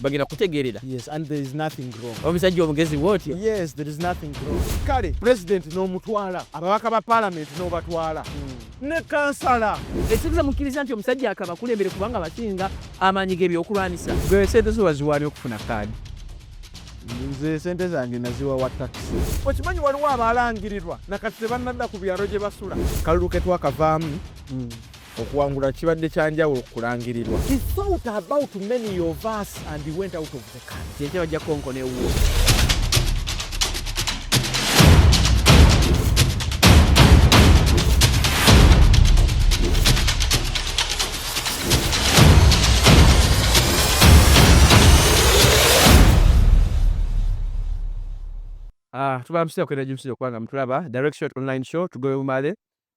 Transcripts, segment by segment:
bagenda kutegeerera omusajja omugezi wootyo kale pulezidenti n'omutwala ababaka ba palamenti n'obatwala hmm. ne kansala ekibuza mukkiriza nti omusajja akaba kulembere kubanga abasinga amaanyi g'ebyokulwanyisa gwe sente zo waziwaani okufuna kaadi nze sente zange naziwa wa takisi okimanyi waliwo abaalangirirwa nakati tebannadda ku byalo gye basula kalulu ke twakavaamu hmm. Okuwangula kibadde kya njawulo ku kulangirirwa. He thought about many of us and he went out of the country. Ekyo bajja konkona ewuwo. Ah, tubamusira kwenda jimusira kwanga mutulaba direct shot online show tugobe mumale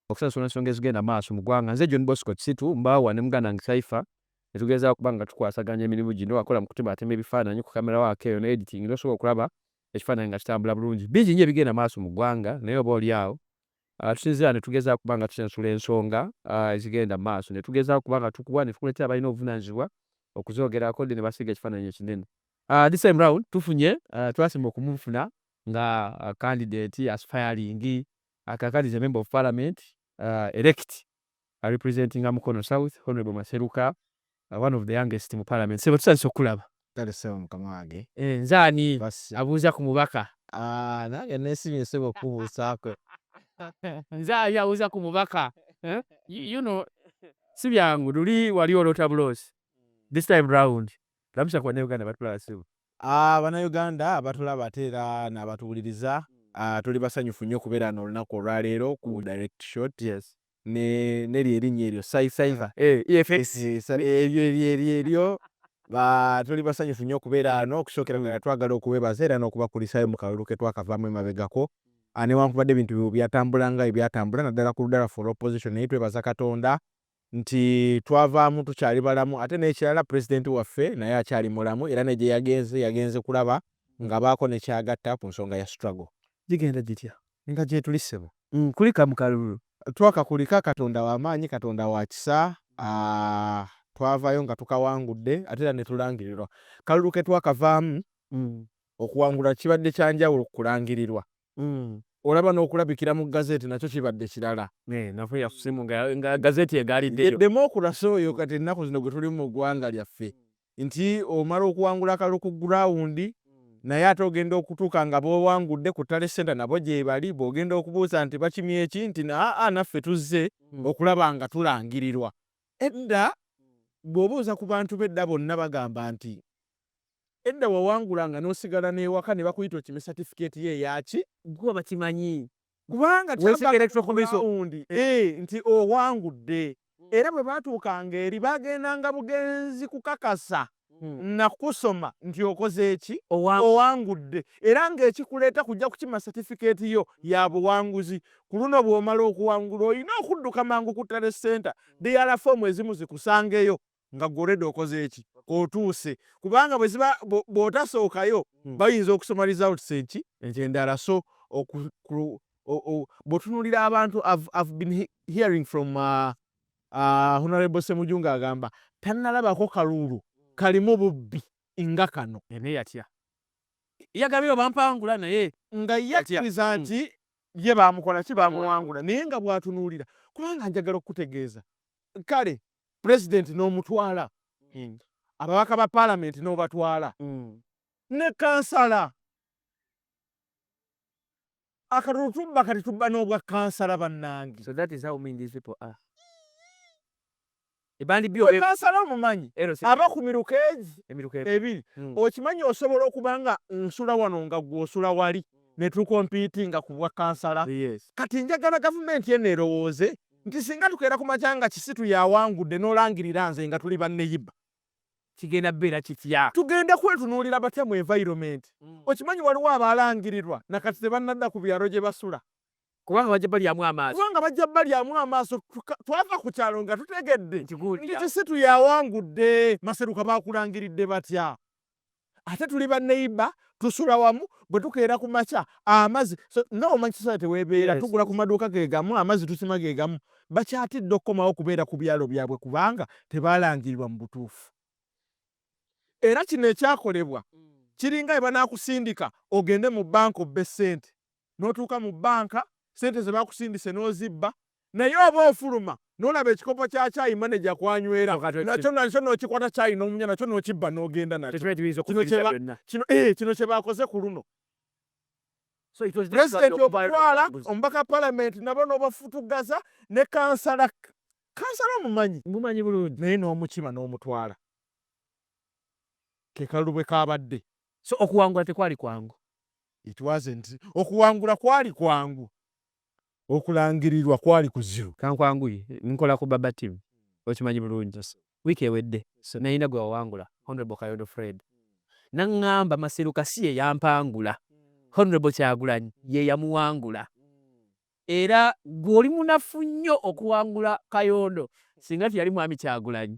okusasula ensonga ezigenda maaso mu ggwanga nze john bosco kisitu mbaawa ne muganda nge saifa netugezaako okuba nga tukwasaganya emirimu gino wakola mu kutemaatema ebifaananyi ku kamera waako eyo ne editing nosobola okulaba ekifaananyi nga kitambula bulungi bingi nyo ebigenda maaso mu ggwanga naye oba oli awo ah, tusinzira netugeza okuba nga tusensula ensonga ah, ezigenda mu maaso netugeza okuba nga tukuwa netukuletera abalina obuvunanyizibwa okuzogerako de nebasiga ekifaananyi ekinene ah, this time round tufunye twasimba okumufuna nga candidate aspiring A Kakande is a member of parliament uh, elect a representinga Mukono South Honorable Maseruka uh, one of the youngest mu parliament sebo tutandise okulaba kale sebo mukama wange eh, nze ani abuuza ku mubaka ah, nange nesimye sebo okubuusaako nze ali abuuza ku mubaka eh? you know si byangu luli wali olota buloozi this time round Labisha ku bannayuganda batulaba ssebo. Aah banauganda abatulaba ate era nabatuwuliriza aah tuli basanyufu nnyo okubeera wano olunaku olwaleero ku direct shot Yes. ne neryo erinnya eryo Cy cyber Eh EFX. Eryo eryo eryo eryo ba tuli basanyufu nnyo okubeera wano okusookera ddala twagala okubebaza era nokubakulisaayo mu kalulu ketwakavaamu emabegako aah newankubadde ebintu byatambula nga bwebyatambula naddala ku ludda lwaffe olwa opposition naye twebaza katonda nti twavaamu tukyali balamu ate n'ekirala Pulezidenti waffe naye akyali mulamu era ne gye yagenze yagenze kulaba ng'abaako ne ky'agatta ku nsonga ya struggle. Gigenda gitya nga gyetuli ssebo? Nkulika mu kalulu. Twakakulika, Katonda wa maanyi, Katonda wa kisa, twavaayo nga tukawangudde ate era ne tulangirirwa. Kalulu ke twakavaamu okuwangula kibadde kya njawulo ku kulangirirwa. Mm. olaba n'okulabikira mu gazeti nakyo kibadde kirala eh, nafe yafusimu nga gazeti egaliddeyo demokurasi oyo kati ennaku zino gwe tulimu mu ggwanga lyaffe nti omala okuwangula akalulu ku gurawundi naye ate ogenda okutuuka nga bowangudde ku tale senta nabo gyebali bwogenda okubuuza nti bakimye eki nti aa naffe tuzze hmm. okulaba nga tulangirirwa edda bw'obuuza ku bantu bedda bonna bagamba nti Edda wawangulanga nosigala newaka nebakuyita okime certificate yo eyaki? Gwe bakimanyi kubanga kyavanga ku ground nti owangudde era bwebatuukanga eri bagendanga bugenzi kukakasa nakusoma nti okozeeki? Owangudde era nga ekikuleeta kujja kukima certificate yo yabuwanguzi. Kuluno bwomala okuwangula olina okudduka mangu ku Tale Centre dialer form ezimu zikusangeyo. nga gwe olwedde okoze eki otuuse kubanga bweziba bwotasookayo hmm. bayinza okusoma results eki ekyendala so bwotunulira abantu i've been hearing from uh, uh, honorable semujunga agamba tanalabako kaluulu hmm. kalimu bubbi nga kano ene yatya yagabye obampangula naye nga yakkiriza hmm. nti ye bamukola ki bamuwangula naye nga bwatunuulira kubanga njagala okukutegeeza kale Pulezidenti n'omutwala, ababaka ba Palamenti n'obatwala, ne kkansala. Akalulu tubba kati tubba n'obwa kkansala bannange. So that is how mean these people are. Gwe kansala omumanyi aba ku miruka egi ebiri. Hmm. Okimanyi osobola okuba nga nsula wano nga gwe osula wali ne tukompiitinga ku bwa kansala. Kati njagala gavumenti eno erowooze nti singa tukeera ku makya nga kisitu y'awangudde n'olangirira nze nga tuli banneyiba kigenda kubeera kitya? Tugenda kwetunuulira batya mu environment? Okimanyi waliwo abaalangirirwa na kati tebannadda ku byalo gye basula. Kubanga bajja balyamu amaaso. Kubanga bajja balyamu amaaso. Twava ku kyalo nga tutegedde nti kisitu y'awangudde. Maseruka baakulangiridde batya? ate tuli baneiba tusula wamu bwetukeera ku makya amazi so, nga omanyi society webeera yes. tugula ku maduuka gegamu amazi tusima gegamu bakyatidde okukomawo okubeera ku byalo byabwe kubanga tebalangirirwa mu butuufu era kino ekyakolebwa kiringa ebanakusindika ogende mu banka obbe sente notuuka mu banka sente zebakusindise nozibba Naye oba ofuluma nolaba ekikopo kya kyayi manager kwanywera nakyo nakyo nokikwata kyayi nomunya nakyo nokibba nogenda nakyo. Kino eh kino kyebakoze kuluno. President okutwala omubaka parliament nabo nobafutuggaza ne kansala kansala omumanyi naye nomukima nomutwala kekalulu bwekabadde. So okuwangula tekwali kwangu. It wasn't okuwangula kwali kwangu okulangirirwa kwali kuzibu. Ka nkwanguye, nkola ku Baba Team, okimanyi bulungi. Wiiki ewedde nnalina gwe wawangula, Honourable Kayondo Fred, n'aŋŋamba Maseruka si ye yampangula, Honourable Kyagulanyi ye yamuwangula era ggwe oli munafu nnyo okuwangula Kayondo singa teyali Mwami Kyagulanyi.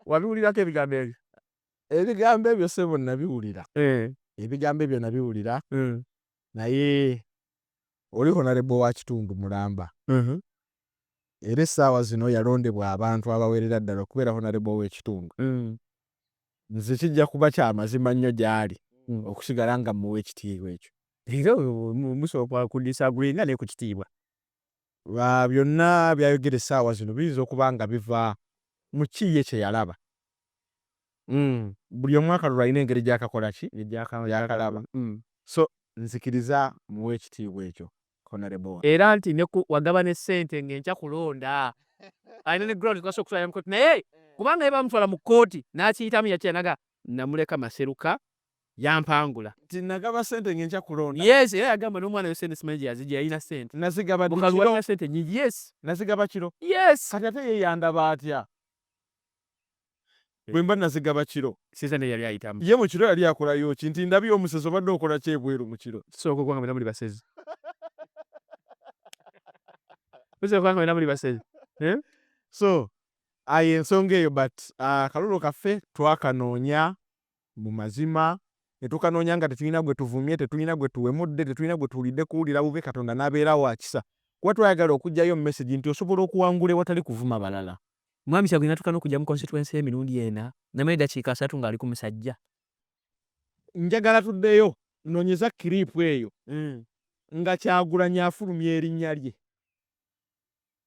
Wabiwulirako ebigambo ebyo? ebigambo ebyo sebo nabiwulira eh. ebigambo ebyo nabiwulira mm. naye oli honarebo wa kitundu mulamba mm-hmm. era essaawa zino yalondebwa abantu abawerera ddala okubeera honarebo w'ekitundu mm. nze kijja kuba kya mazima nnyo gy'ali mm. okusigala nga muwa ekitiibwa ekyo era musooka kudisagulinga naye ku kitiibwa Byonna by'ayogera essaawa zino biyinza okuba nga biva mu ki ye kye yalaba. Buli omu akalulu alina engeri gy'akakola ki? Gy'akalaba. So, nzikiriza mmuwa ekitiibwa ekyo, Honorable. Era nti ne ku wagaba ne ssente ng'enkya kulonda, alina ne grounds z'asobola okutwalira mu kkooti. Naye kubanga ye bamutwala mu kkooti n'akiyitamu yakira n'agamba, Nnamuleka Maseruka yampangula. Nti nagaba sente ngenkya kulonda. Yes era yagamba nomwana yo sente simanyi gyeyazijja yalina sente. Nazigaba ddi kiro. Mukalu walina sente nyingi yes. Nazigaba kiro. Yes. Kati ate ye yandaba atya. Bwemba nazigaba kiro. Sente naye yali ayitamu. Ye mukiro yali akolayo ki. Nti ndabye omusezi obadde okola ki ebweru mukiro. Tusooka okuba nga mwena muli basezi. Tusooka okuba nga mwena muli basezi. Eh? So. Aye ensonga eyo but akalulu ah, kaffe twakanoonya. mu mazima, ne tukanoonya nga tetulina gwe tuvumye, tetulina gwe tuwemudde, tetulina gwe tuwulidde kuwulira bubi, Katonda n'abeera wa kisa. Kuba twayagala okuggyayo mesegi nti osobola okuwangula ewatali kuvuma balala. Mwami Kyagulanyi natuuka n'okujja mu constituency ye emirundi ena, namala eddakiika asatu ng'ali ku musajja. Njagala tuddeyo, nonyeza clip eyo nga Kyagulanyi afulumya erinnya lye.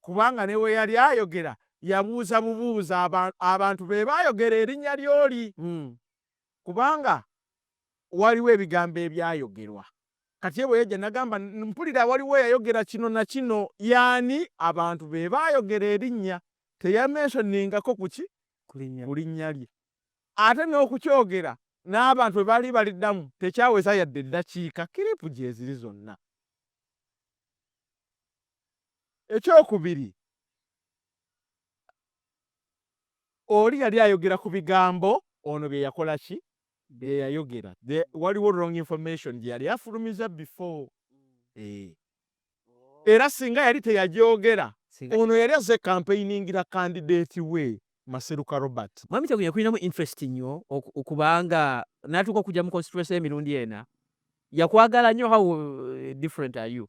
kubanga ne bwe yali ayogera yabuuza bubuuza abantu be baayogera erinnya ly'oli, kubanga waaliwo ebigambo ebyayogerwa. Kati ye bwe yajja n'agamba, Mpulira waliwo eyayogera kino na kino. Y'ani? Abantu be baayogera erinnya. Teyamensoningako ku ki? Ku linnya lye. Ate n'okukyogera n'abantu bwe baali baliddamu tekyaweza yadde eddakiika, kiriipu gyeziri zonna. Ekyokubiri, oli yali ayogera ku bigambo ono bye yakola ki bye yayogera waliwo wrong information gye yali afulumiza before eh. era singa yali teyagyogera ono yali azze kampeiningira kandideeti we Maseruka Robert. Mwami Kyagulanyi yakulinamu interest nnyo okubanga natuuka okujja mu constituency emirundi ena yakwagala nnyo how eh, different are you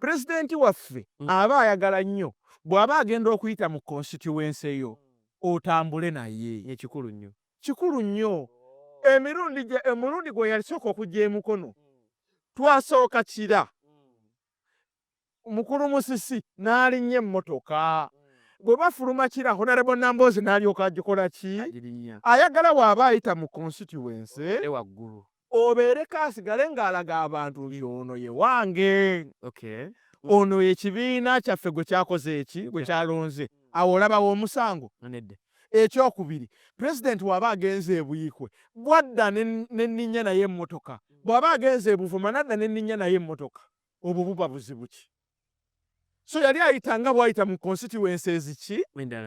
Pulezidenti waffe aba ayagala nnyo bw'aba agenda okuyita mu konsitityuwense yo otambule naye. Kikulu nnyo. Kikulu nnyo. Emirundi gye, omulundi gwe yasooka okujja e Mukono, twasooka Kira, Mukulu Musisi n'alinnya emmotoka. Bwe bafuluma Kira, Honourable Nambooze n'alyoka agikola ki? Ayagala bw'aba ayita mu konsitityuwense obeereko asigale ng'alaga abantu nti ono ye wange ono ekibiina kyaffe gwe kyakoze eki gwe kyalonze awo olabawo omusango ekyokubiri pulezidenti waba agenze ebuikwe bwadda neninya naye emotoka bwaba agenze ebuvuma nadda neninya naye emotoka obwo buba buzibu ki so yali ayita nga bwayita mu constituency eziki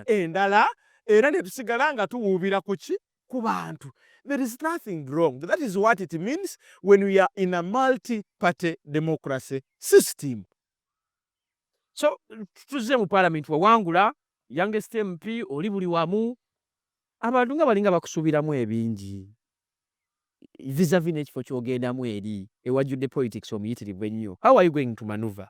endala era netusigala nga tuwuubira kuki ku bantu there is nothing wrong that is what it means when we are in a multi party democracy system so tuze mu parliament wawangula youngest mp oli buli wamu abantu nga balinga bakusuubiramu ebingi visavi n'ekifo kyogendamu eri ewajjudde politics omuyitirivu ennyo how are you going to manuva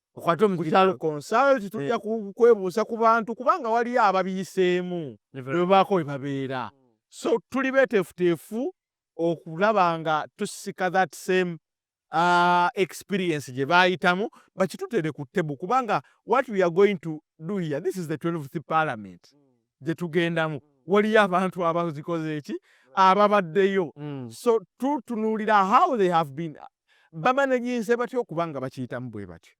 okwate omukyaalo consult tujja mm. kwebuuza ku bantu kubanga waliyo ababiyiseemu nebabaako we babeera so tuli beteefuteefu okulaba nga tusika that same uh, experience gye baayitamu bakitutere ku tebu kubanga what we are going to do here this is the 12th parliament mm. gye tugendamu mm. waliyo abantu abazikoze eki ababaddeyo mm. so tutunuulira how they have been bamanajinze batya okuba nga bakiyitamu bwebatyo.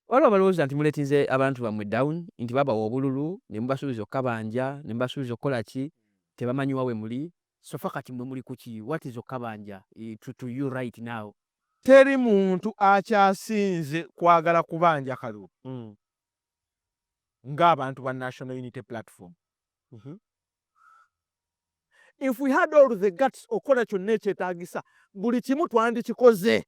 Waliwo abalowooza nti muletinze abantu bamwe down nti babawa obululu nemubasubiza okukabanja nemubasubiza okukolaki tebamanyi wa wemuli so far kati mwe muli kuki what is okukabanja to to you right now. Teri muntu akyasinze kwagala kubanja kalulu nga abantu ba National Unity Platform. if we had all the guts okukola kyonna ekyetagisa buli kimu twandikikoze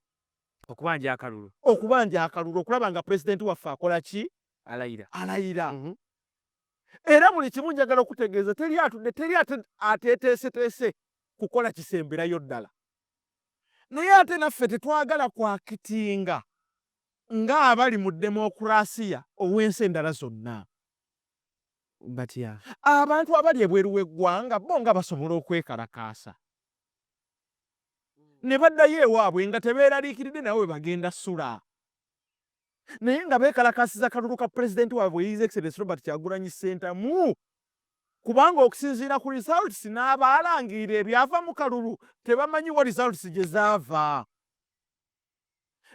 okubanja akalulu okubanja akalulu okulaba nga pulezidenti waffe akola ki alayira alayira mm -hmm. era buli kimu njagala okutegeeza teri atudde teri ateteeseteese kukola kisemberayo ddala naye ate naffe tetwagala kwakitinga ng'abali mu demokurasiya ow'ensi endala zonna batya? Abantu abali ebweru w'eggwanga bo nga basobola okwekalakaasa ne baddayo ewaabwe nga tebeeraliikiridde nabo bwe bagenda ssula naye nga beekalakaasiza akalulu ka Pulezidenti waabwe His Excellency Robert Kyagulanyi Ssentamu kubanga okusinziira ku results n'abaalangirira ebyava mu kalulu tebamanyi wa results gye zaava.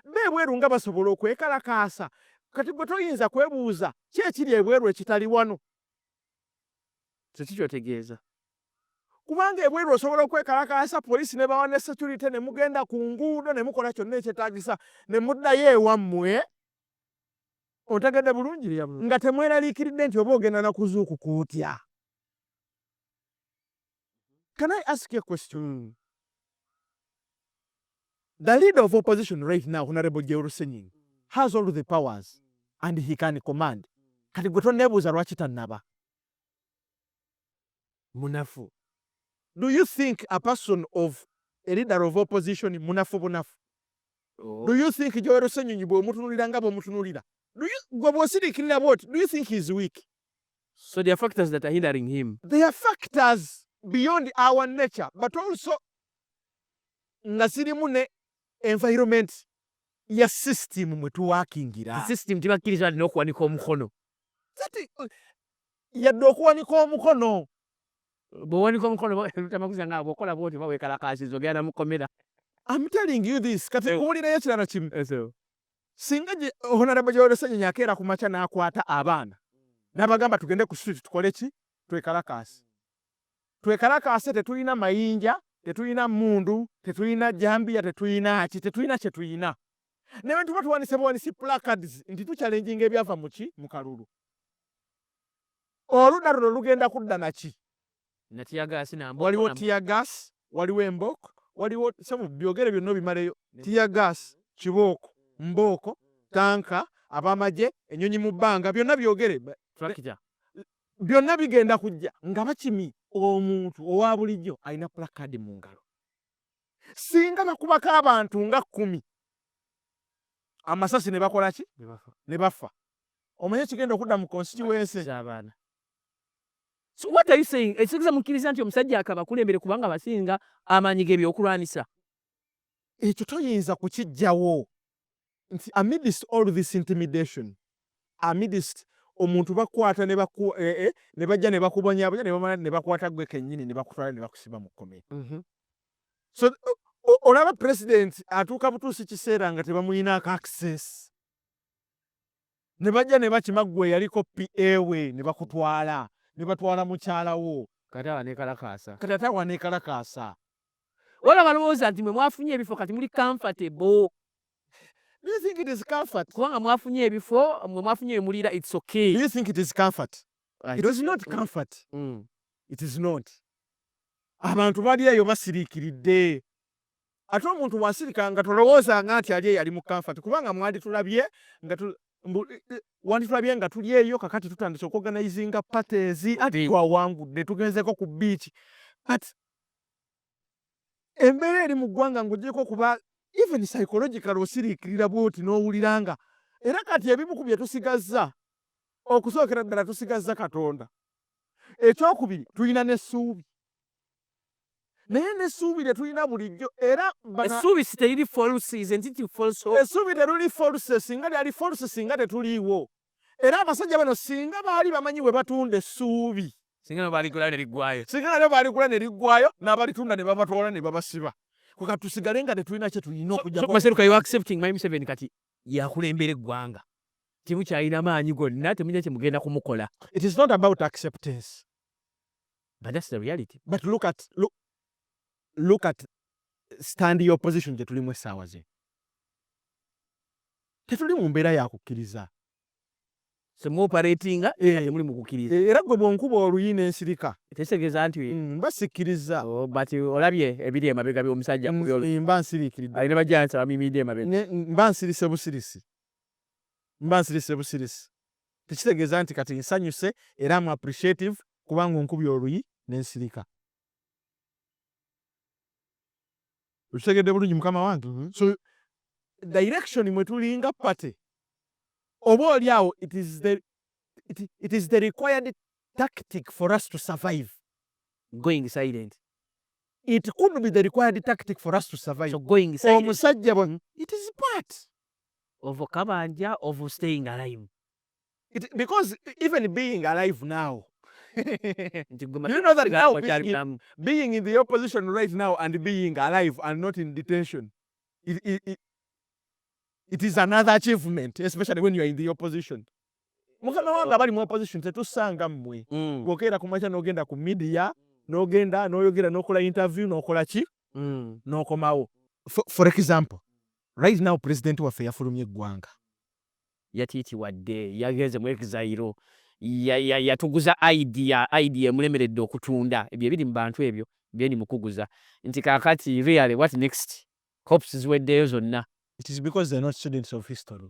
Bo ebweru nga basobola okwekalakaasa? Kati gwe toyinza kwebuuza ki ekiri ebweru ekitali wano? Nze ki ky'otegeeza? Kubanga ebweru osobola okwekalakaasa, poliisi n'ebawa ne securite, ne mugenda ku nguudo ne mukola kyonna ekyetaagisa ne muddayo ewammwe. Ontegedde bulungi? Nga temweraliikiridde nti oba ogenda na kuzuukuka otya? Can I ask a question? Mm. The leader of opposition right now, Honorable Jerusalem, has all the powers and he can command. Kati gwe tonneebuuza lwaki tannaba munafu. Do you think a person of a leader of opposition munafu bunafu? Oh. Do you think Joel Ssenyonyi bw'omutunulira nga bw'omutunulira? Gwe bw'osirikirira bw'oti, do you think he is weak? So there are factors that are hindering him. There are factors beyond our nature, but also nga zirimu ne environment ya system mwe tuwakingira. System tibakkiriza wadde n'okuwanika omukono. Kati yadde okuwanika omukono bwewanika omukono tamaguza nga bwokola bwoti bawekalakaasiza ogenda mukomera. I'm telling you this kati eh. owulirayo ekirala kimu. Eh, singa honarebo gyewero senyonyi akeera ku makya n'akwata abaana n'abagamba tugende ku street tukole ki twekalakaase twekalakaase tetulina mayinja tetulina mundu tetulina jambiya tetulina ki tetulina kye tulina naye bwe tuba tuwanise buwanisi placards nti tuchallenginga ebyava mu ki mu kalulu oludda luno lugenda kudda naki waliwo tiyagas waliwo embooko waliwo sabu byogere byonna obimaleyo tiyagas kibooko mbooko tanka abamagye enyonyi mu bbanga byonna byogere byonna bigenda kujja nga bakimi omuntu owa bulijjo alina pulakadi mu ngalo singa bakubako abantu nga kkumi amasasi ne bakola ki ne bafa omanyi ekigenda okudda mu konsitiwensi So what are you saying? Ekitegeeza mukkiriza nti omusajja akabakulembere kubanga abasinga amaanyi g'ebyokulwanyisa? Ekyo toyinza kukijjawo nti amidst all this intimidation amidst omuntu bakwata ne eh, eh, bajja ne bakubonyabonya ne bamala ne bakwata gwe kennyini ne bakutwala ne bakusiba mu kkomera. Mm-hmm. So olaba pulezidenti atuuka butuusi kiseera nga tebamulinaako access. ne bajja ne bakima ggwe eyaliko PA we ne bakutwala ne batwala mukyala wo kati awa nekalakaasa kati ate awa nekalakaasa wala balowooza nti mwe mwafunye ebifo kati muli comfortable Do you think it is comfort? Kubanga mwafunye ebifo mwe mwafunye emulira it's okay. Do you think it is comfort? Right. It is not comfort. Mm. It is not. Abantu bali eyo basiriikiridde. Ate omuntu bw'asirika nga tolowoozanga nti ali eyali mu kanfati kubanga mwanditulabye nga tu, mbu, wanditulabye nga tuli eyo kakati tutandise okuoganizinga parties ati twawangudde tugenzeeko ku biiki but embeera eri mu ggwanga ng'ogyeko okuba even psychological osiriikirira bwoti n'owulira nga era kati ebimu ku bye tusigazza okusookera ddala tusigazza Katonda. Ekyokubiri tulina n'essuubi naye n'essuubi lye tulina bulijjo era essuubi si teriri false is nti ti false essuubi teruli false singa lyali false singa tetuliiwo era abasajja bano singa baali bamanyi bwe batunda essuubi singa nabo baligula ne liggwayo singa nabo baligula ne liggwayo n'abalitunda ne babatwala ne babasiba kuka tusigale nga tetulina kye tulina okujamaseruka you accepting my museveni kati yakulembera eggwanga temukyalina maanyi gonna temulina kye mugenda kumukola it is not about acceptance but that's the reality but look at look, look at stand your position gye tulimu essaawa zino tetuli mu mbeera yakukkiriza semuoperatinga eh. temuli mukukkiriza eh, era gwe bwonkuba oluyi nensirika tekitegeeza nti mm, mba sikkiriza oh, but olabye ebiri emabega byomusajja mm, eh, mba nsiriikiridde alina bajansi abamimidde emabega mba nsirise busirisi mba nsirise busirisi tekitegeeza nti kati nsanyuse era am appreciative kubanga onkubye oluyi nensirika. Okitegedde bulungi mukama wange? mm -hmm. so direction mwe tulinga party oba oli awo it is the, it, it is the required tactic for us to survive going silent it could be the required tactic for us to survive so going silent omusajja bwe it is part of kabanja of staying alive It, because even being alive now you know that now being, being in the opposition right now and being alive and not in detention it, it, it, it is another achievement especially when you are in the opposition mukama wange abali mu opposition tetusanga mmwe mm. bwokeera kumakya nogenda ku media nogenda noyogera nokola interview nokola ki mm. nokomawo for, for example Right now president waffe yafulumye eggwanga. Yatitiwadde, yagenze mu exile, yatuguza ID, ID emulemeredde okutunda. Ebyo ebiri mu bantu ebyo byeni mukuguza. Nti kakati really what next? Hopes ziweddeyo zonna. It is because they are not students of history.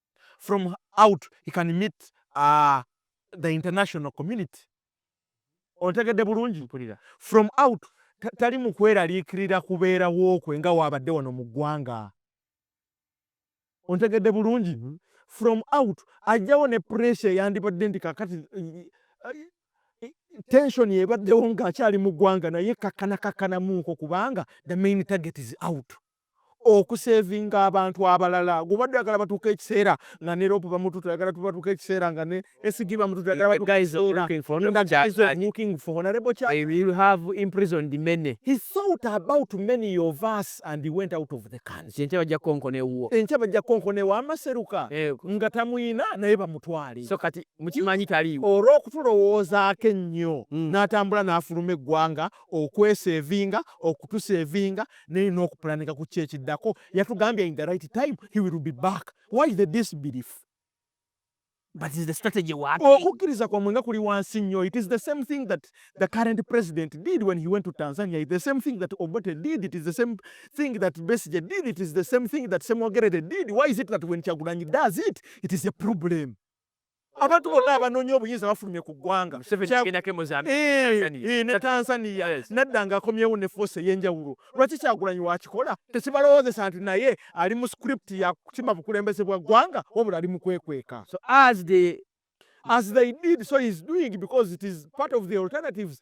from out he can meet the international community ontegedde bulungi from out tali mukweraliikirira kubeerawo kwe nga waabadde wano mu ggwanga ontegedde bulungi mm-hmm. from out ajjawo ne pressure yandibadde nti kakati tension ebaddewo ng'akyali mu ggwanga naye kakkana kakkanamuuko kubanga the main target is out okusevinga abantu abalala gubadde oyagala batuuke ekiseera nga ne rope bamututa oyagala tubatuuke ekiseera nga ne esigi bamututa oyagala batuuke ekiseera nga guys are looking for honorable cha they will have imprisoned many he thought about many of us and he went out of the country enkya bajja konkona ewuwo enkya bajja konkona ewa amaseruka nga tamuyina naye bamutwale so kati mukimanyi taliiwo olw'okutulowoozaako ennyo n'atambula n'afuluma eggwanga okwesevinga okutusevinga naye n'okupulaninga ku ki ekiddako yatugambye in the right time he will be back why the disbelief okukkiriza kwamwe nga kuli wansi nnyo it is the same thing that the current president did when he went to tanzania it the same thing that obote did it is the same thing that besige did it is the same thing that semogerede did why is it that when kyagulanyi does it it is a problem abantu bonna abanoonya obuyinza bafulumye ku ggwanga eh, eh, ne tanzania nadda nga akomyewo ne foosi ey'enjawulo lwaki kyagulanyi wakikola tekibalowoozesa nti naye ali mu script ya kukima bukulembeze bwa ggwanga wabula ali mu kwekweka as they did so is doing because it is part of the alternatives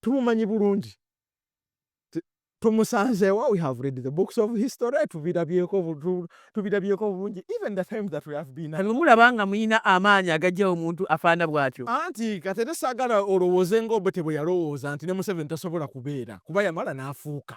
tumumanyi bulungi tumusanzeewa we have read the books of history tubirabyeko tubirabyeko bulungi even the time that we have been kati mulaba nga muyina amaanyi agajja omuntu afaana bwatyo anti katete saagala olowooze nga obote bwe yalowooza nti ne museveni tasobola kubeera kuba yamala n'afuuka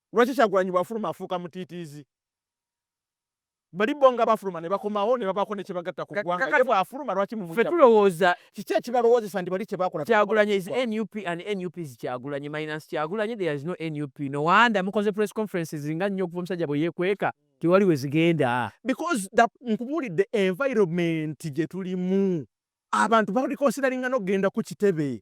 Lwaki Kyagulanyi bwafuluma afuuka mutiitiizi? Bali bo nga bafuluma nebakomawo nebabaako nekyebagatta ku ggwanga ye bwafuluma lwaki mumutya? Ffe tulowooza. Kiki ekibalowoozesa nti bali kyebakola tebakikola ku ggwanga? Kyagulanyi is nup and nup is Kyagulanyi minus Kyagulanyi there is no nup no wonder mukoze press conferences nga nnyo okuva omusajja bweyekweka tewali wezigenda. Because the nkubuulidde environment gyetulimu abantu bali consideringa nokugenda ku kitebe.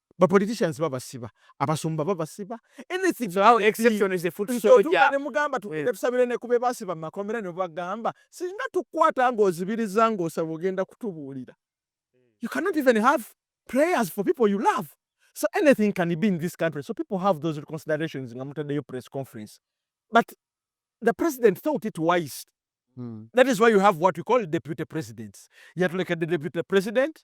Ba politicians babasiba, abasumba babasiba, anything so our exception is the foot soldier. Ne mugamba tusabire ne kube basiba makomera ne bagamba singa tukwata ngo zibiriza ngo osaba ogenda kutubuulira. You cannot even have prayers for people you love. So anything can be in this country. So people have those considerations nga mutadeyo press conference. But the president thought it wise. Hmm. That is why you have what we call deputy presidents. Yatulekedde deputy president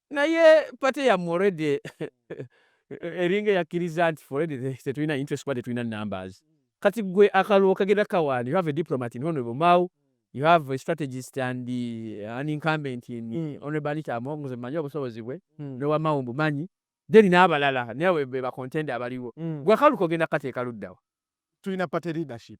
Naye party yamu already eringa eyakiriza nti already tetulina interest kuba tetulina numbers. Kati gwe akalwo kagenda kawani you have a diplomat in honorable Mao you have a strategist and uh, an incumbent in mm. honorable Anita Among nze manyi obusobozi bwe mm. ne wamao mbumanyi then n'abalala nawe be bakontenda abaliwo mm. gwe akalu kogenda kateeka luddawa tulina party leadership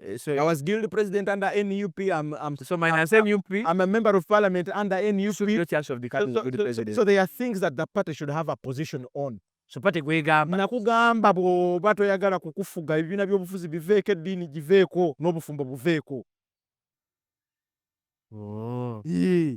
Eh, so I was guild president under NUP. I'm, I'm so minus I'm, NUP. I'm a member of parliament under NUP. So no chance of becoming so, so, so, president. So there are things that the party should have a position on. So party gwegamba nakugamba bw'oba toyagala kukufuga ebibiina by'obufuzi biveeko eddiini giveeko n'obufumbo buveeko. Oh. Yeah.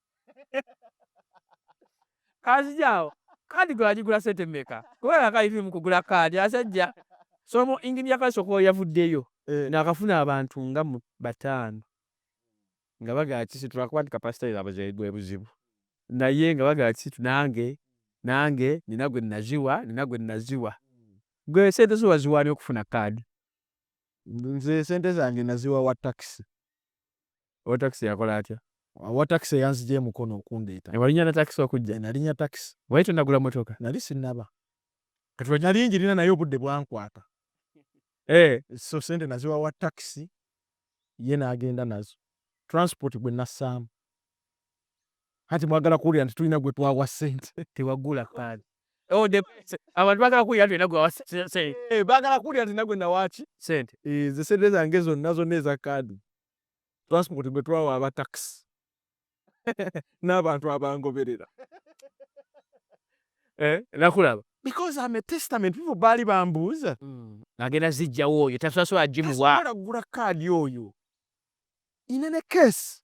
kazijawo kaadi gwe wagigula sente mmeka kubanga akayitiri mu kugula kaadi asajja somo ingini ya kaadi sokowa yavuddeyo eh. naakafuna abantu nga mu bataano nga bagala kisitula kuba nti kapasita yabwe bwe buzibu naye nga bagala kisitu nange nange nina gwe naziwa nina gwe naziwa gwe sente zo waziwaani okufuna kaadi nze sente zange naziwa wa takisi Owa taxi yakola atya? Owa taxi eyanzija e Mukono okundeeta. Eh, walinya na taxi okujja? Eh, nalinya taxi. Wali tonnagula mmotoka? Nali sinnaba. Kati olwo nali njirina naye obudde bwankwata. Eh. So ssente naziwa wa taxi ye n'agenda nazo. Transport gwe nassaamu. Kati mwagala kuwulira nti tulina gwe twawa sente. Tewagula pad. Oh, the abantu bagala kuwulira nti olina gwe wawa sente. Eh, bagala kuwulira nti nagwe nawaki sente. Eh, ze sente zange zonna zonna eza kaadi. Transport gwe twawa aba taxi. N'abantu abangoberera. Eh, nakulaba. Because I'm a testament people baali bambuuza. Mm. Agenda zijjawo oyo tasasula jimuwa. Tasasula gula kaadi oyo. Nina ne case.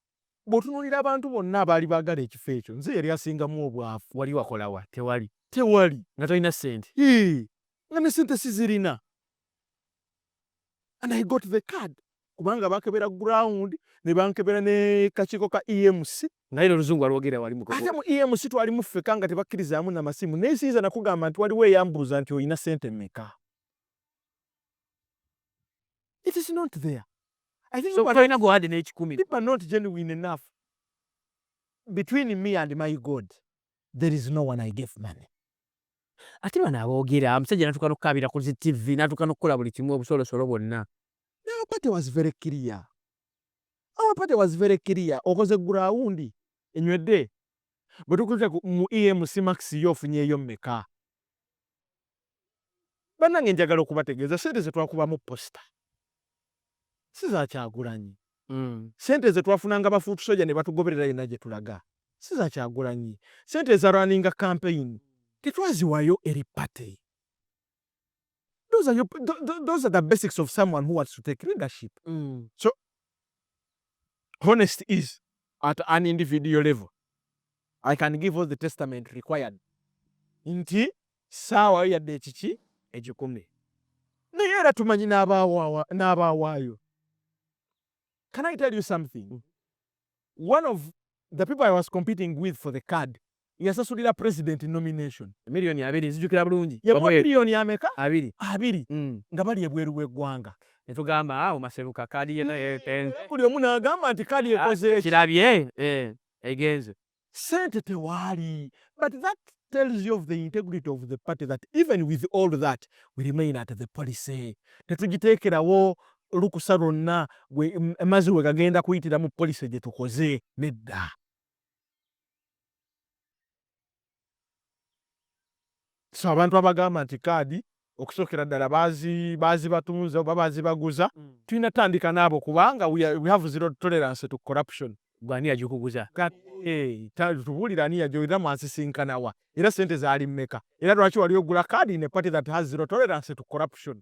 Bwotunulira abantu bonna abaali bagala ekifo ekyo nze yali asingamu obwavu. Wali wakola wa? Tewali. Tewali. Nga tolina ssente? Hii. Nga ne ssente sizirina. And I got the card. Kubanga bakebera ground ne bankebera ne kakiiko ka EMC. Naye noluzungu walwogerera wali mugogo. Ate mu EMC twalimu ffeka nga tebakkirizaamu na masimu. Naye siyinza nakugamba nti waliwo eyambuuza nti olina ssente mmeka. It is not there. I think so people, go add an age kumi. People are not genuine enough. Between me and my God, there is no one I gave money. Ati bana abogera amusajja natuka nokukabira ku zi TV natuka nokukola buli kimu obusolosolo bwonna. Our party was very clear. Our party was very clear. Okoze ground enywedde bwe tukuza mu EMC Max yo ofunyeyo mmeka? Banange njagala okubategeeza sente zetwakubamu posta si za Kyagulanyi. Mm. Sente zetwafunanga ba foot soja nebatugoberera yonna gyetulaga si za Kyagulanyi. Sente eza runninga campaign tetwaziwayo eri party. Those are, your, those are the basics of someone who wants to take leadership. Mm. So honest is at an individual level i can give all the testament required nti saawa yo yadde ekiki egikumi naye era tumanyi n'abawaayo can i tell you something one of the people i was competing with for the card yasasulira president nomination. Million abiri nzijukira bulungi. Yamuwa million ameka? Abiri. Abiri. Mm. Nga bali ebweru w'eggwanga. Netugamba awo maseruka kaadi ye naye egenze. Buli omu n'agamba nti kaadi ah, ekoze eki. Kirabye eh, egenze. Sente tewaali. But that tells you of the integrity of the party that even with all that we remain at the policy. Tetugiteekerawo lukusa lwonna mazi we gagenda kuyitira mu policy gye tukoze nedda. so abantu abagamba nti kaadi okusookera ddala baazibatunze oba baazibaguza mm. tulina tandika naabo kubanga we have zero tolerance to corruption gwani yagikuguza eh, tubuulira ani yajo era mwasisinkanawa era sente zaali mmeka era lwaki wali ogula kaadi ne party that has zero tolerance to corruption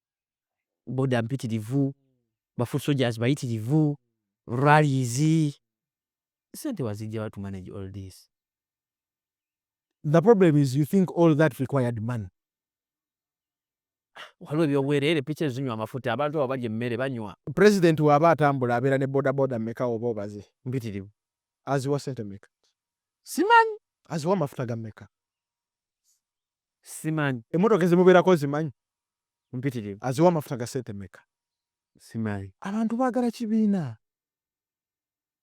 boda mpitirivu, ba foot soldiers bayitirivu, rallies. Sente wazijja wa to manage all this? The problem is you think all that required money. Waliwo ebyobwereere piki ezinywa amafuta abantu abo balya emmere banywa. President waba atambula abeera ne boda boda meka oba obaze? Mpitirivu. Aziwa sente meka? Simanyi. Aziwa amafuta ga meka? Simanyi. Emotoka ezimuberako ozimanyi? Mpitirivu. Aziwa amafuta ga sente meka? Simanyi. Abantu bagala kibiina.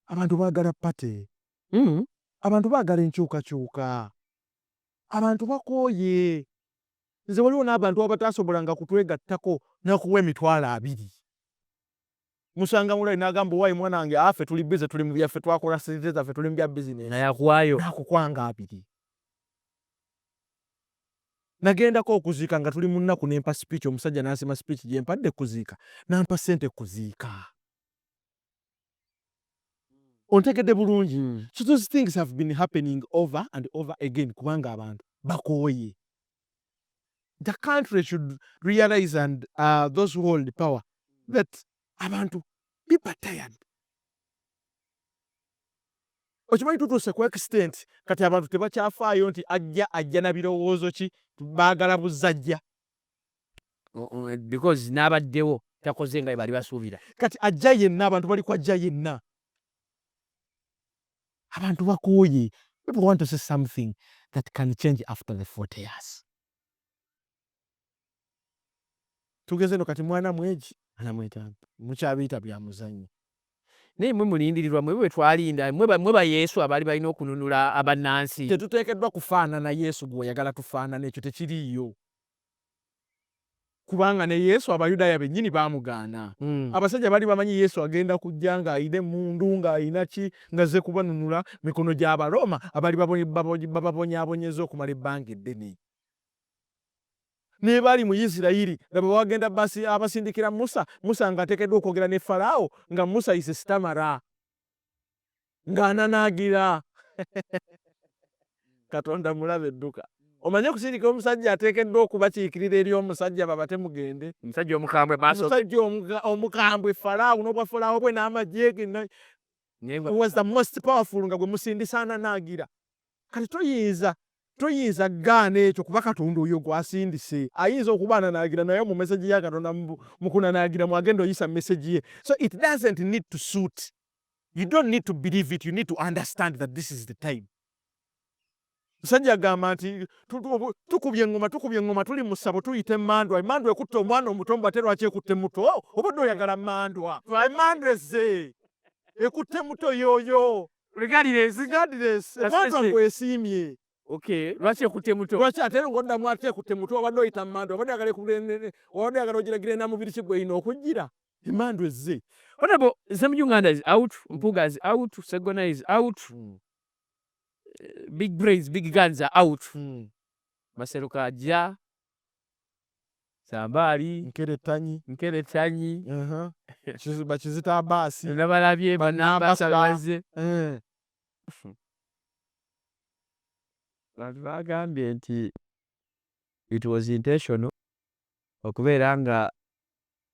Abantu bagala party. Mm. Abantu bagala enkyukakyuka. Abantu bakooye. Nze waliwo n'abantu abatasobolanga kutwegattako nakuwa emitwalo abiri. musanga mulai nagamba owaye mwana wange afe tuli busy tuli mubyaffe twakola sente zaffe tuli mubya business nayakuwayo nakukwanga abiri nagendako okuziika nga tuli munnaku nempa speech omusajja nasima speech gyempadde kuziika nampa sente kuziika ontegedde bulungi hmm. so those things have been happening over and over again kubanga abantu bakooye the country should realize and uh, those who hold power that abantu biba tired okimanyi tutuuse ku extent kati abantu tebakyafaayo nti ajja ajja na birowoozo ki baagala buzajja because n'abaddewo takoze nga bali basuubira kati ajja yenna abantu bali kwajja yenna abantu bakooye people want to see something that can change after the 40 years tugeze no kati mwana mweji anamwetanga mukyabiyita bya muzanyo naye mwe mulindirirwa mwe bwe twalinda mwe ba yesu abaali balina okununula abannansi tetuteekeddwa kufaanana yesu gwe oyagala tufaanana ekyo tekiriiyo Kubanga ne Yesu Abayudaaya bennyini baamugaana. Abasajja baali bamanyi Yesu agenda kujja ng'alina emmundu, ng'alina ki, ng'azze kubanunula mu mikono gy'Abaroma abaali bababonyaabonyezza okumala ebbanga eddene. Naye baali mu Isiraeri. Laba, bagenda abasindikira Musa, Musa ng'ateekeddwa okwogera ne Falaawo, nga Musa is a stammerer. ng'ananaagira katonda mulabe dduka omanye okusindika omusajja ateekeddwa okubakiikirira eri omusajja babate mugende omusajja omukambwe omusajja omukambwe falaawo n'obwa falaawo bwe n'amagye ge was the most powerful nga gwe musindisa ananaagira kati toyinza toyinza gaana ekyo kuba katonda oyo gwasindise ayinza okuba ananaagira naye mu meseji ya katonda mukunanaagira mwagenda oyisa meseji ye so it doesn't need to suit you don't need to believe it you need to understand that this is the time musajja agamba nti tukubye eŋŋoma tukubye eŋŋoma tuli mu ssabo tuyita emandwa emandwa ekutte omwana omuto mbu ate lwaki ekutte muto oh, obadde oyagala mandwa emandwa ezze ekutte muto yoyo emandwa ngwesiimye lwaki ekutte muto lwaki ate ngoddamu ate ekutte muto obadde oyita mandwa obadde yagala ekubadde yagala ogiragira enamubiri kigweyina okujjira Emmandu ezze. Honorable Nsemujju Nganda is out, Mpuga is out, Segona is out. Hmm. Eh, big brains, big guns are out. Hmm. Maseruka ajja. Sambali. Nkere tanyi. Nkere tanyi. Uh -huh. Chizu, bachizita abasi. Nabalabye, banabasa baze. Eh. Bantu bagambye nti it was intentional okubeera nga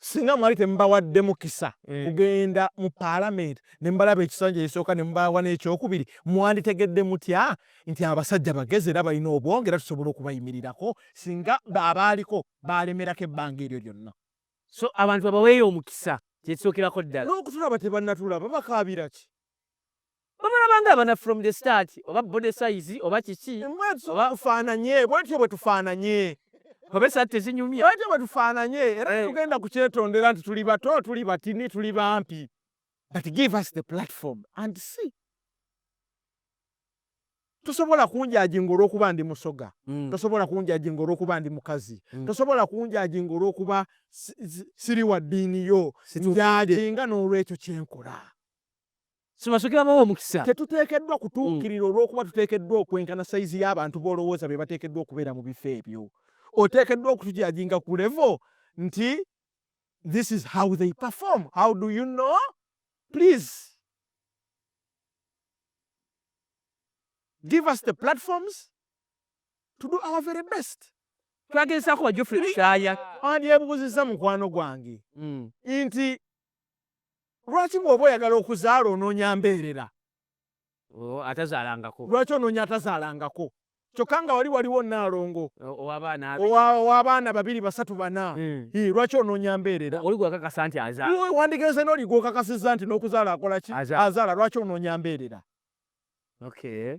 Singa mwali temubawadde mukisa mm. kugenda mu palamenti ne mubalaba ekisanja ekisooka ne mubawa n'ekyokubiri, mwanditegedde mutya nti abasajja bagezi era balina obwongo era tusobola okubayimirirako singa abaaliko baalemerako ebbanga eryo lyonna. So abantu babaweeyo omukisa kye kisookerako ddala. N'okutulaba tebannatulaba bakaabira ki? Bamulaba nga abana from the start oba body size oba kiki oba fananye bwetyo bwetufananye oba esati tezinyumye bwetyo bwetufananye era eh. tugenda kukyetondera nti tuli bato tuli batini tuli bampi but give us the platform and see tosobola kunjajinga olwokuba ndi musoga mm. tosobola kunjajinga olwokuba ndi mukazi mm. tosobola kunjajinga olwokuba siri wa ddiini yo njajinga n'olwekyo kyenkola Sibasooke babawa omukisa. Tetuteekeddwa kutuukirira olw'okuba tuteekeddwa okwenkana sayizi y'abantu b'olowooza be bateekeddwa okubeera mu bifo ebyo. Oteekeddwa okutujajinga ku level nti this is how they perform. How do you know? Please. Give us the platforms to do our very best. Twagezaako wa Geoffrey Lutaaya. Wandyebuuzizza mukwano gwange hmm. nti Lwaki bwoba oyagala okuzaala ononya mbeerera? Oh, atazaalangako. Lwaki ononya atazaalangako? Kyokka nga wali waliwo nnaalongo ow'abaana babiri basatu bana, hmm. lwaki ononya mbeerera? Oli gwakakasa nti azaala. Wandigenze n'oli gwokakasizza nti n'okuzaala akola ki? Azaala. Lwaki ononya mbeerera? Okay.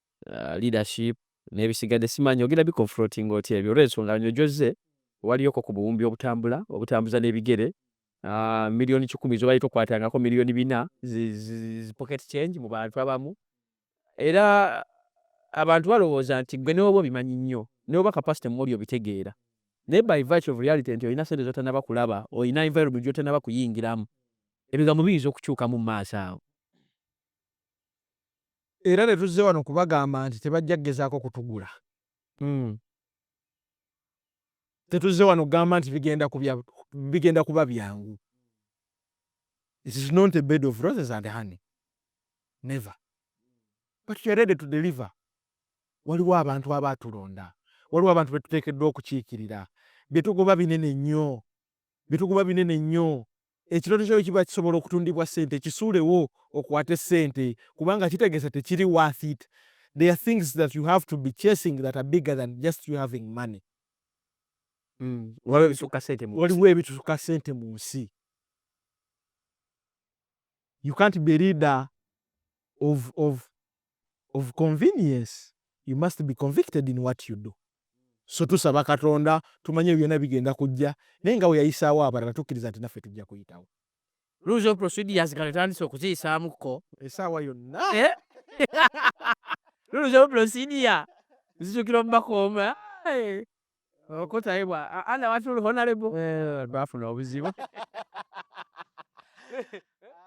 uh, leadership nebisigadde simanyi ogenda biconfrontinga otya ebyo olwensonga nyo gyozze waliyoko ku buwumbi obutambula obutambuza n'ebigere uh, miliyoni kikumi zobali tokwatangako miliyoni bina pocket change mu bantu abamu era abantu balowooza nti gwe newoba obimanyi nnyo newoba kapasite mumuli obitegeera naye by virtue of reality nti olina sente zotanaba kulaba olina environment gyotanaba kuyingiramu ebigambo biyinza okukyukamu mu maaso awo Era tetuzze wano kubagamba nti tebajja kugezaako kutugula. Tetuzze wano kugamba nti bigenda kuba byangu. It is not a bed of roses and honey. Never. But we are ready to deliver. Waliwo abantu abaatulonda. Waliwo abantu be tuteekeddwa okukiikirira. Bye tugoba binene nnyo. Bye tugoba binene nnyo. Ekirooto kyo bwekiba kisobola okutundibwa sente kisuulewo okwate sente kubanga kitegeza tekiri worth it there are things that you have to be chasing that are bigger than just you having money waliwo ebitusuka sente munsi you can't be leader of, of of convenience you must be convicted in what you do so tusaba katonda tumanye ebyo byona bigenda kujja naye nga weyayisaawo abalala tukiriza nti naffe tujja kuyitawo Rules of procedures kale tandise okuziyisaamu ko esaawa yonna eh? Rules of procedure zijukira omubakooma eh. okutayibwa ana watuli honalebo bafuna obuzibu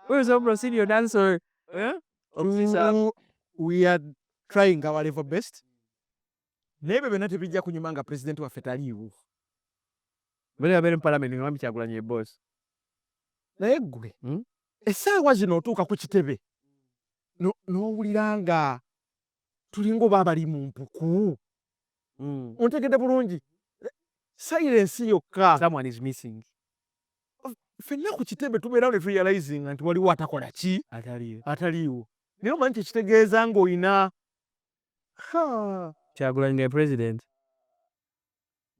where's your procedure done so yeah? we are trying our level best naye byo byonna tebijja kunyuma nga pulezidenti waffe taliiwo bali abeere mu palamenti nga bambi kyagulanyi ebosi naye ggwe hmm? essaawa zino otuuka ku kitebe n'owulira nga tulinga oba abali mu mpuku mm. ontegedde bulungi silence yokka someone is missing fenna ku kitebe tubeerawo ne turealizinga nti waliwo atakola ki ataliiwo naye omanyi kyekitegeeza ngaolina kyagulanyi nga president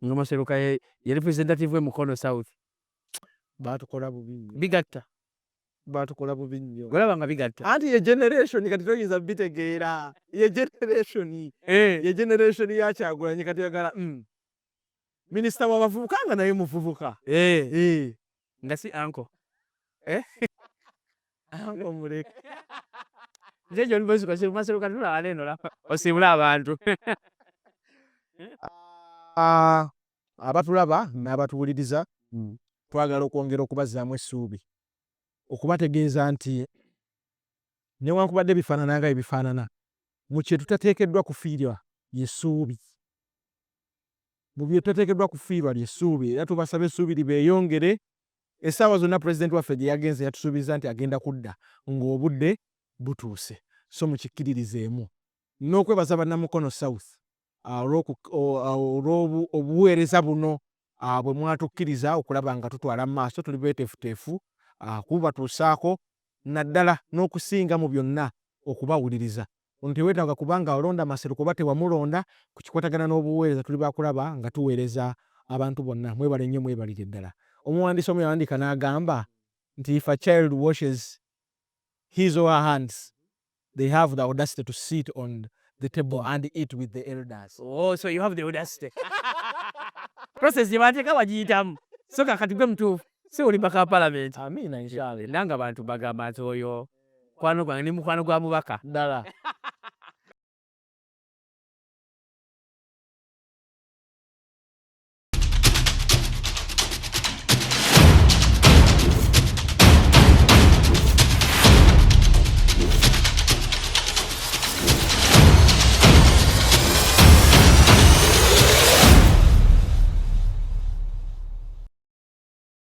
nga maseruka ye ye representative we mukono south batukola bubi bigatta batukola bubi nnyo olaba nga bigatta anti ye generation kati toyinza bitegeera ye generation eh. ye generation ya kyagulanyi kati yagala mm. minisita wabavubuka nga naye muvubuka eh. Eh. nga si anko eh? anko muleke nze ekyo libozuka si mumasiro kati tulaba neno lapa osiibule abantu ah, abatulaba n'abatuwuliriza hmm. twagala okwongera okubazzaamu essuubi okubategeeza nti newankubadde bifaanana nga ebifaanana mu kye tutateekeddwa kufiirwa yesuubi mu bye tateekeddwa kufiirwa ly'essuubi era tubasaba essuubi libeeyongere. Essaawa zonna Pulezidenti waffe gye yagenze yatusuubizza nti agenda kudda ng'obudde butuuse so mukikkiririzeemu. N'okwebaza Bannamukono South olw'obuweereza buno bwe mwatukkiriza okulaba nga tutwala mu maaso, tuli beeteefuteefu kububatuusaako naddala n'okusinga mu byonna okubawuliriza Ono tewetaaga kuba nga olonda Maseruka oba tewamulonda, ku kikwatagana n'obuweereza tuli baakulaba nga tuweereza abantu bonna. Mwebale nnyo mwebalire ddala. Omuwandiisi omu yawandiika n'agamba nti if a child washes his or her hands they have the audacity to sit on the table and eat with the elders. Oh, so you have the audacity. Process gye bateeka wagiyitamu. So kakati gwe mutuufu. Si olimba ka parliament. Amiina inshallah. Nanga abantu bagamba nti oyo mukwano gwange ndi mukwano gwa mubaka ddala